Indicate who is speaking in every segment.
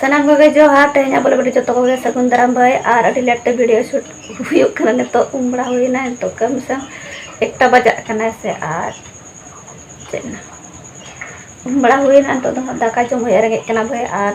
Speaker 1: ᱥᱟᱱᱟᱢ ᱠᱚᱜᱮ ᱡᱚᱦᱟᱨ ᱛᱮᱦᱮᱧ ᱟᱵᱚ ᱞᱟᱹᱜᱤᱫ ᱡᱚᱛᱚ ᱠᱚᱜᱮ ᱥᱟᱹᱜᱩᱱ ᱫᱟᱨᱟᱢ ᱵᱷᱟᱹᱭ ᱟᱨ ᱟᱹᱰᱤ ᱞᱮᱴ ᱛᱮ ᱵᱷᱤᱰᱤᱭᱳ ᱥᱩᱴ ᱦᱩᱭᱩᱜ ᱠᱟᱱᱟ ᱱᱤᱛᱚᱜ ᱩᱢ ᱵᱟᱲᱟ ᱦᱩᱭᱱᱟ ᱱᱤᱛᱚᱜ ᱠᱟᱹᱢᱤ ᱥᱟᱶ ᱮᱠᱴᱟ ᱵᱟᱡᱟᱜ ᱠᱟᱱᱟ ᱥᱮ ᱟᱨ ᱪᱮᱫ ᱩᱢ ᱵᱟᱲᱟ ᱦᱩᱭᱱᱟ ᱱᱤᱛᱚᱜ ᱫᱚ ᱫᱟᱠᱟ ᱡᱚᱢ ᱦᱩᱭᱩᱜᱼᱟ ᱨᱮᱸᱜᱮᱡ ᱠᱟᱱᱟ ᱵᱷᱟᱹᱭ ᱟᱨ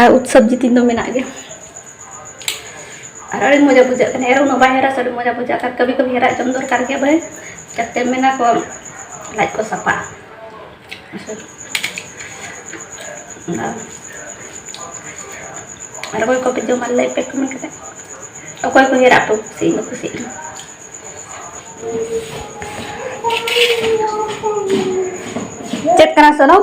Speaker 1: ᱟᱨ ᱩᱛ ᱥᱚᱵᱽᱡᱤ ᱛᱤᱧ ᱫᱚ ᱢᱮᱱᱟᱜ ᱜᱮᱭᱟ ᱟᱨ ᱟᱹᱰᱤ ᱢᱚᱡᱟ ᱵᱩᱡᱷᱟᱹᱜ ᱠᱟᱱᱟ ᱮᱨ ᱩᱱᱟᱹᱜ ᱵᱟᱭ ᱦᱮᱨᱟ ᱥᱮ ᱟᱹᱰᱤ ᱢᱚᱡᱟ ᱵᱩᱡᱷᱟᱹᱜ ᱠᱟᱱᱟ ᱠᱟᱹᱵᱷᱤ ᱠᱟᱹᱵᱷᱤ ᱦᱮᱨᱟᱜ ᱡᱚᱢ ᱫᱚᱨᱠᱟᱨ ᱜᱮ ᱵᱷᱟᱹᱭ ᱡᱟᱛᱮ ᱢᱮᱱᱟ ᱠᱚ ᱞᱟᱡ ᱠᱚ ᱥᱟᱯᱷᱟᱜᱼᱟ ᱟᱨ ᱚᱠᱚᱭ ᱠᱚᱯᱮ ᱡᱚᱢᱟ ᱞᱟᱹᱭ ᱯᱮ ᱠᱚᱢᱮᱱᱴ ᱠᱟᱛᱮ ᱚᱠᱚᱭ ᱠᱚ ᱦᱮᱨᱟᱜ ᱯᱮ ᱠᱩᱥᱤ ᱤᱧ ᱫᱚ ᱠᱩᱥᱤᱜ ᱠᱟᱱᱟ ᱪᱮᱫ ᱠᱟᱱᱟ ᱥᱚᱱᱚᱢ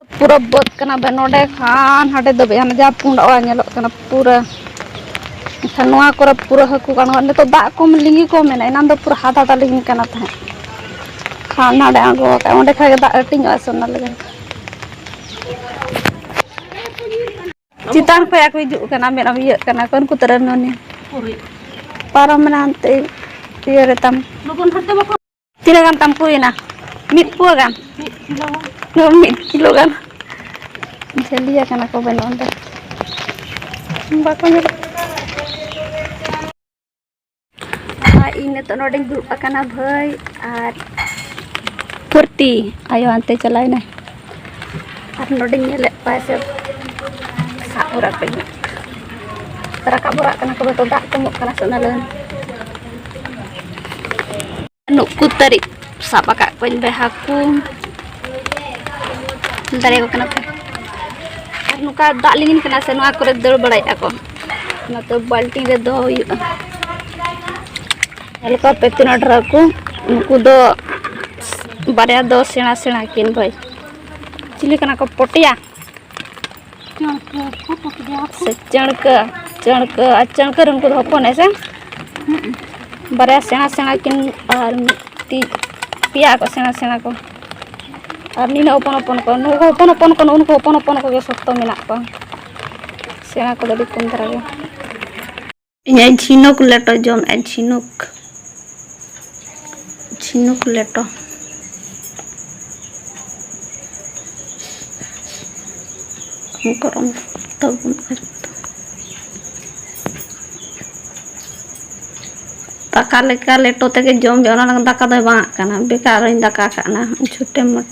Speaker 1: ᱯᱩᱨᱟᱹ ᱵᱟᱹᱫᱽ ᱠᱟᱱᱟ ᱵᱮ ᱱᱚᱰᱮ ᱠᱷᱟᱱ ᱦᱟᱸᱰᱮ ᱫᱷᱟᱹᱵᱤᱡ ᱦᱟᱱᱮ ᱡᱟᱦᱟᱸ ᱯᱩᱸᱰ ᱚᱲᱟᱜ ᱧᱮᱞᱚᱜ ᱠᱟᱱᱟ ᱯᱩᱨᱟᱹ ᱮᱱᱠᱷᱟᱱ ᱱᱚᱣᱟ ᱠᱚᱨᱮ ᱯᱩᱨᱟᱹ ᱦᱟᱹᱠᱩ ᱜᱟᱱᱚᱜᱼᱟ ᱱᱤᱛᱚᱜ ᱫᱟᱜ ᱠᱚᱢ ᱞᱤᱸᱜᱤ ᱠᱚᱢ ᱢᱮᱱᱟ ᱮᱱᱟᱱ ᱫᱚ ᱯᱩᱨᱟᱹ ᱦᱟᱫ ᱦᱟᱫᱟ ᱞᱤᱸᱜᱤ ᱠᱟᱱᱟ ᱛᱟᱦᱮᱸᱫ ᱠᱷᱟᱱ ᱱᱟᱰᱮ ᱟᱬᱜᱚ ᱟᱠᱟᱫ ᱚᱸᱰᱮ ᱠᱷᱟᱱ ᱜᱮ ᱫᱟᱜ ᱦᱟᱹᱴᱤᱧᱚᱜᱼᱟ ᱥᱮ ᱚᱱᱟ ᱞᱟᱹᱜᱤᱫ ᱪᱮᱛᱟᱱ ᱠᱷᱚᱡ ᱠᱚ ᱦᱤᱡᱩᱜ ᱠᱟᱱᱟ ᱢᱮᱫ ᱤᱭᱟᱹᱜ ᱠᱟᱱᱟ ᱠᱚ ᱩᱱᱠᱩ ᱛᱟᱹᱨᱟᱹᱱ ᱱᱚᱱᱤ
Speaker 2: ᱯᱟᱨᱚᱢ ᱢᱮᱱᱟ
Speaker 1: ᱦᱟᱱᱛᱮ ᱤᱭᱟᱹ ᱨᱮᱛᱟᱢ
Speaker 2: ᱛᱤᱱᱟᱹᱜ ᱜᱟᱱ ᱛᱟᱢ
Speaker 1: ᱯᱩᱭᱮᱱᱟ ᱢᱤᱫ ᱯᱩᱣᱟᱹ ᱜᱟᱱ ᱢᱤᱫ ᱠᱤᱞᱳ ᱜᱟᱱ ᱢᱤᱫ ᱠᱤᱞᱳ ᱜᱟᱱ ᱡᱷᱟᱹᱞᱤᱭᱟ ᱠᱟᱱᱟ ᱠᱚ ᱵᱟᱹᱱᱩᱜ ᱚᱸᱰᱮ ᱵᱟᱠᱚ ᱧᱮᱞ ᱤᱧ ᱱᱤᱛᱚᱜ ᱱᱚᱰᱮᱧ ᱫᱩᱲᱩᱵ ᱟᱠᱟᱱᱟ ᱵᱷᱟᱹᱭ ᱟᱨ ᱯᱷᱩᱨᱛᱤ ᱟᱭᱳ ᱦᱟᱱᱛᱮ ᱪᱟᱞᱟᱣᱮᱱᱟᱭ ᱟᱨ ᱱᱚᱰᱮᱧ ᱧᱮᱞᱮᱫ ᱠᱚᱣᱟ ᱥᱮ ᱥᱟᱵ ᱵᱚᱨᱟᱜ ᱠᱚ ᱤᱧᱟᱹᱜ ᱨᱟᱠᱟᱵ ᱵᱚᱨᱟᱜ ᱠᱟᱱᱟ ᱠᱚ ᱵᱟᱠᱚ ᱫᱟᱜ ᱠᱚᱢᱚᱜ ᱠᱟᱱᱟ ᱥᱮ ᱚᱱᱟ ᱞᱟᱹᱜᱤᱫ ᱱᱩᱠᱩ ᱛᱟᱹᱨᱤᱡ ᱥᱟᱵ ᱟᱠᱟᱫ ᱠᱚᱣᱟᱧ ᱵᱮ ᱦᱟᱹᱠᱩ ᱫᱟᱲᱮᱭᱟᱠᱚ ᱠᱟᱱᱟ ᱠᱚ ᱟᱨ ᱱᱚᱝᱠᱟ ᱫᱟᱜ ᱞᱤᱸᱜᱤᱱ ᱠᱟᱱᱟ ᱥᱮ ᱱᱚᱣᱟ ᱠᱚᱨᱮ ᱫᱟᱹᱲ ᱵᱟᱲᱟᱭᱮᱫᱼᱟ ᱠᱚ ᱚᱱᱟᱛᱮ ᱵᱟᱹᱞᱴᱤᱱ ᱨᱮ ᱫᱚᱦᱚ ᱦᱩᱭᱩᱜᱼᱟ ᱦᱟᱞᱠᱟ ᱯᱮ ᱛᱤᱱᱟᱹᱜ ᱰᱷᱮᱨ ᱠᱚ ᱩᱱᱠᱩ ᱫᱚ ᱵᱟᱨᱭᱟ ᱫᱚ ᱥᱮᱬᱟ ᱥᱮᱬᱟ ᱠᱤᱱ ᱵᱷᱟᱹᱭ ᱪᱤᱞᱤ ᱠᱟᱱᱟ ᱠᱚ ᱯᱚᱴᱭᱟ ᱥᱮ ᱪᱟᱹᱬᱠᱟᱹ ᱪᱟᱹᱬᱠᱟᱹ ᱟᱨ ᱪᱟᱹᱬᱠᱟᱹ ᱨᱮ ᱩᱱᱠᱩ ᱫᱚ ᱦᱚᱯᱚᱱ ᱦᱮᱸ ᱥᱮ ᱵᱟᱨᱭᱟ ᱥᱮᱬᱟ ᱥᱮᱬᱟ ᱠᱤᱱ ᱟᱨ ᱢᱤᱫᱴᱤᱡ ᱯᱮᱭᱟ ᱠᱚ ᱥᱮᱬᱟ ᱥᱮᱬᱟ ᱠᱚ ᱟᱨ ᱱᱤᱱᱟᱹᱜ ᱦᱚᱯᱚᱱ ᱦᱚᱯᱚᱱ ᱠᱚ ᱱᱩᱠᱩ ᱦᱚᱯᱚᱱ ᱦᱚᱯᱚᱱ ᱠᱚ ᱱᱩᱠᱩ ᱦᱚᱯᱚᱱ ᱦᱚᱯᱚᱱ ᱠᱚᱜᱮ ᱥᱚᱠᱛᱚ ᱢᱮᱱᱟᱜ ᱠᱚᱣᱟ ᱥᱮᱬᱟ ᱠᱚᱫᱚ ᱟᱹᱰᱤ ᱠᱚᱢ ᱫᱷᱟᱨᱟ ᱜᱮ ᱤᱧᱟᱹᱜ ᱡᱷᱤᱱᱩᱠ ᱞᱮᱴᱚ ᱡᱚᱢᱮᱫᱼᱟ ᱡᱷᱤᱱᱩᱠ ᱡᱷᱤᱱᱩᱠ ᱞᱮᱴᱚ ᱜᱚᱨᱚᱢ ᱛᱟᱵᱚᱱ ᱫᱟᱠᱟ ᱞᱮᱠᱟ ᱞᱮᱴᱚ ᱛᱮᱜᱮ ᱡᱚᱢ ᱵᱮ ᱚᱱᱟ ᱞᱟᱹᱜᱤᱫ ᱫᱟᱠᱟ ᱫᱚᱭ ᱵᱟᱝᱟᱜ ᱠᱟᱱᱟ ᱵᱮᱠᱟᱨ ᱤᱧ ᱫᱟᱠᱟ ᱠᱟᱜ ᱠᱟᱱᱟ ᱪᱷᱩᱴᱮ ᱢᱚᱴ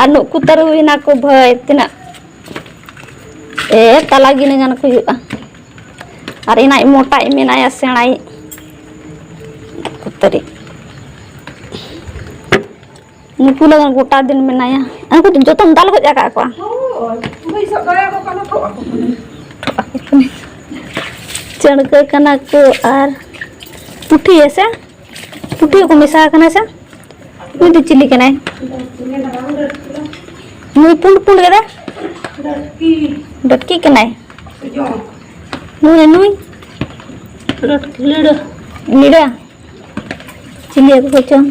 Speaker 1: ᱟᱨ ᱱᱩᱠᱩ ᱛᱟᱹᱨᱩᱵ ᱦᱮᱱᱟᱜ ᱠᱚ ᱵᱷᱟᱹᱭ ᱛᱤᱱᱟᱹᱜ ᱮ ᱛᱟᱞᱟ ᱜᱤᱱᱟᱹ ᱜᱟᱱ ᱠᱚ ᱦᱩᱭᱩᱜᱼᱟ ᱟᱨ ᱤᱱᱟᱭ ᱢᱚᱴᱟᱭ ᱢᱮᱱᱟᱭᱟ ᱥᱮᱬᱟᱭ ᱛᱟᱹᱨᱤ ᱱᱩᱠᱩ ᱞᱟᱜᱟᱱ ᱜᱚᱴᱟ ᱫᱤᱱ ᱢᱮᱱᱟᱭᱟ ᱩᱱᱠᱩ ᱫᱚ ᱡᱚᱛᱚᱢ ᱫᱟᱞ ᱜᱚᱡ ᱟᱠᱟᱫ ᱠᱚᱣᱟ
Speaker 2: ᱪᱟᱹᱲᱠᱟᱹ
Speaker 1: ᱠᱟᱱᱟ ᱠᱚ ᱟᱨ ᱯᱩᱴᱷᱤ ᱦᱮᱸᱥᱮ ᱯᱩᱴᱤ ᱠᱚ ᱢᱮᱥᱟ ᱟᱠᱟᱱᱟ ᱥᱮ ᱱᱩᱭ ᱫᱚ ᱪᱤᱞᱤ ᱠᱟᱱᱟᱭ ᱱᱩᱭ ᱯᱩᱸᱰ ᱯᱩᱸᱰ ᱠᱟᱫᱟ ᱰᱚᱴᱠᱤ ᱠᱟᱱᱟᱭ ᱱᱩᱭ ᱱᱩᱭ ᱞᱤᱲᱟᱹ ᱞᱤᱲᱟᱹ ᱪᱤᱞᱤ ᱦᱟᱹᱠᱩ ᱠᱚᱪᱚᱝ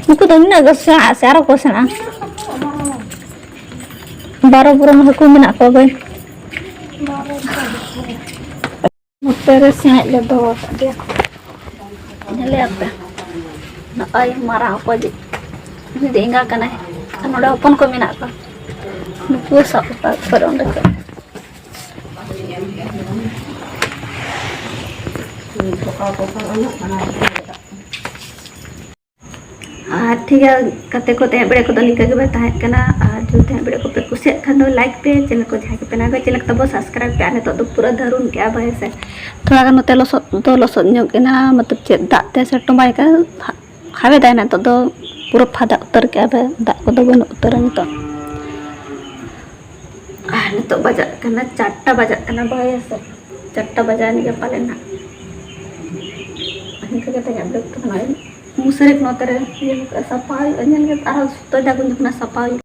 Speaker 1: ᱱᱩᱠᱩ ᱫᱚ ᱱᱩᱱᱟᱹᱜ ᱜᱮ ᱥᱮᱬᱟ ᱥᱮ ᱟᱨᱚ ᱠᱚ ᱥᱮᱬᱟ ᱵᱟᱨᱚ ᱵᱚᱨᱚᱱ ᱦᱟᱹᱠᱩ ᱢᱮᱱᱟᱜ ᱠᱚᱣᱟ ᱵᱟᱹᱭ ᱱᱚᱛᱮ ᱨᱮ ᱥᱤᱬᱮᱡ ᱞᱮ ᱫᱚᱦᱚ ᱟᱠᱟᱫ ᱜᱮᱭᱟ ᱧᱮᱞᱮᱭᱟᱯᱮ ᱱᱚᱜᱼᱚᱭ ᱢᱟᱨᱟᱝ ᱚᱠᱚᱭ ᱩᱱᱤ ᱫᱚ ᱮᱸᱜᱟ ᱠᱟᱱᱟᱭ ᱟᱨ ᱱᱚᱰᱮ ᱦᱚᱯᱚᱱ ᱠᱚ ᱢᱮᱱᱟᱜ ᱠᱚᱣᱟ ᱱᱩᱠᱩ ᱥᱟᱵ ᱟᱠᱟᱫ ᱠᱚᱣᱟ ᱚᱸᱰᱮ ᱠᱚ ᱯᱚᱠᱟ ᱯᱚᱠᱟ ᱚᱱᱟ ᱟᱨ ᱴᱷᱤᱠ ᱜᱮᱭᱟ ᱜᱟᱛᱮ ᱠᱚ ᱛᱟᱦᱮᱸ ᱵᱟᱲᱮ ᱠᱚᱫᱚ ᱱᱤᱝᱠᱟᱹ ᱜᱮᱵᱚᱱ ᱛᱟᱦᱮᱸ ᱠᱟᱱᱟ ᱟᱨ ᱡᱩᱫᱤ ᱛᱟᱦᱮᱸ ᱵᱟᱲᱮ ᱠᱚᱯᱮ ᱠᱩᱥᱤᱭᱟᱜ ᱠᱷᱟᱱ ᱫᱚ ᱞᱟᱭᱤᱠ ᱯᱮ ᱪᱮᱱᱮᱞ ᱠᱚ ᱡᱟᱦᱟᱸᱭ ᱠᱚᱯᱮ ᱱᱟᱣᱟ ᱪᱮᱱᱮᱞ ᱠᱚ ᱛᱟᱵᱚ ᱥᱟᱵᱥᱠᱨᱟᱭᱤᱵ ᱯᱮ ᱟᱨ ᱱᱤᱛᱚᱜ ᱫᱚ ᱯᱩᱨᱟᱹ ᱫᱷᱟᱹᱨᱩᱱ ᱠᱮᱜᱼᱟ ᱵᱟᱭ ᱥᱮ ᱛᱷᱚᱲᱟ ᱜᱟᱱ ᱱᱚᱛᱮ ᱞᱚᱥᱚᱫ ᱫᱚ ᱞᱚᱥᱚᱫ ᱧᱚᱜ ᱮᱱᱟ ᱢᱚᱛᱞᱚᱵ ᱪᱮᱫ ᱫᱟᱜ ᱛᱮ ᱥᱮ ᱴᱚᱢᱵᱟᱭ ᱠᱟᱱ ᱦᱟᱣᱮᱫᱟᱭ ᱱᱤᱛᱚᱜ ᱫᱚ ᱯᱩᱨᱟᱹ ᱯᱷᱟᱫᱟ ᱩᱛᱟᱹᱨ ᱠᱮᱜᱼᱟ ᱫᱟᱜ ᱠᱚᱫᱚ ᱵᱟᱹᱱᱩᱜ ᱩᱛᱟᱹᱨᱟ ᱱᱤᱛᱚᱜ ᱟᱨ ᱱᱤᱛᱚᱜ ᱵᱟᱡᱟᱜ ᱠᱟᱱᱟ ᱪᱟᱨᱴᱟ ᱵᱟᱡᱟᱜ ᱠᱟᱱᱟ ᱵᱟᱭ ᱥᱮ ᱪᱟᱨᱴᱟ ᱵᱟᱡᱟᱣ ᱮᱱ ᱜᱮ ᱯᱟᱞᱮᱱ ᱱᱟᱜ ᱤᱱᱠᱟᱹ ᱠᱟᱛᱮ ᱤᱧᱟᱹᱜ ᱵᱞᱚᱜ ᱫᱚ ᱱᱚᱜᱼᱚᱭ ᱢᱩᱪᱟᱹᱫ ᱱᱚᱛᱮ ᱨᱮ ᱥᱟᱯᱷᱟ ᱦᱩᱭᱩᱜᱼᱟ ᱧᱮᱞ ᱠᱟᱛᱮ ᱟᱨᱦᱚᱸ ᱡᱚᱛᱚ ᱡᱟᱭᱜᱟ ᱡᱚᱠᱷᱚᱱ ᱥᱟᱯᱷᱟ ᱦᱩᱭᱩᱜᱼᱟ